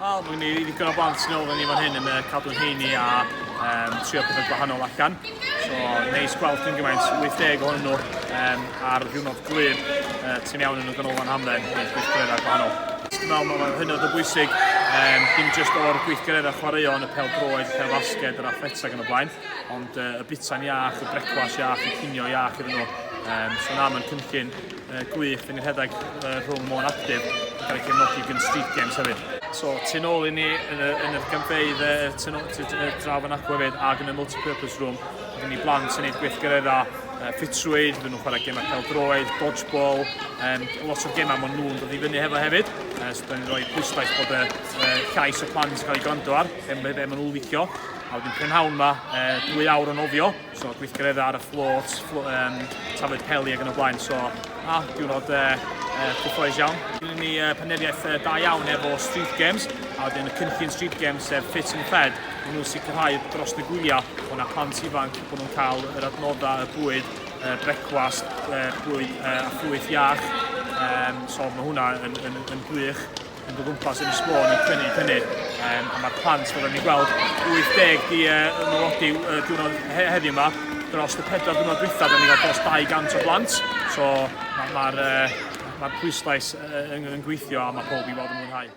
Wel, mae gen i ddigon o blant yn ôl ni fan hyn yn y cadw'n heini a um, trio pethau gwahanol allan. So, neis gweld yn gymaint, 80 ohonyn nhw um, ar ddiwrnod glir, uh, ti'n iawn yn y ganolfan hamdden, neis gweithgareddau gwahanol. Dwi'n meddwl mae'n hynod o bwysig, um, dim jyst o'r gweithgareddau chwaraeo yn y pel droed, y pel basged, yr athleta gan y blaen, ond uh, y bita'n iach, y brecwas iach, y cinio iach iddyn nhw. Um, so na, mae'n cynllun gwych yn rhedeg rhwng Môn Actif yn cael ei cefnogi gan Street Games hefyd. So, tu nôl i ni yn y, yn y gynfeidd y, tu nôl, tu, y draf yn acw hefyd ac yn y multi-purpose room. Mae gen i blant yn neud gweithgaredda uh, ffitrwydd, fydden nhw'n chwarae gemau peldroed, dodgeball, um, lot o gemau maen nhw'n dod i fyny hefo hefyd. Uh, so, da ni'n rhoi pwyslais bod y uh, llais o plant yn cael ei gwrando ar, be, be maen nhw'n licio. A wedyn prynhawn yma, uh, dwy awr o nofio, So gweithgareddau ar y fflôt, fflo, um, tafod peli ac yn y blaen. So, a, diwrnod uh, uh, cyffroes iawn. Gynnu ni uh, peneriaeth uh, da iawn efo Street Games, a wedyn y cynllun Street Games sef Fit and Fed, maen nhw'n sicrhau dros y gwyliau bod yna plant ifanc, bod nhw'n cael yr adnoddau, y bwyd, uh, brecwast, uh, bwyd uh, a ffrwyth iach. Um, so mae hwnna yn, yn, yn gwych. mynd o gwmpas yn y sgwr yn tynnu, tynnu. Um, a mae'r plant, fel ni'n gweld, 80 di uh, yn nodi uh, diwrnod he heddiw yma. Dros y pedwar diwrnod dwytha, da ni'n cael dros 200 o blant. So mae'r ma, ma, uh, ma pwyslais uh, yn, yn gweithio a mae pob i fod yn mwynhau.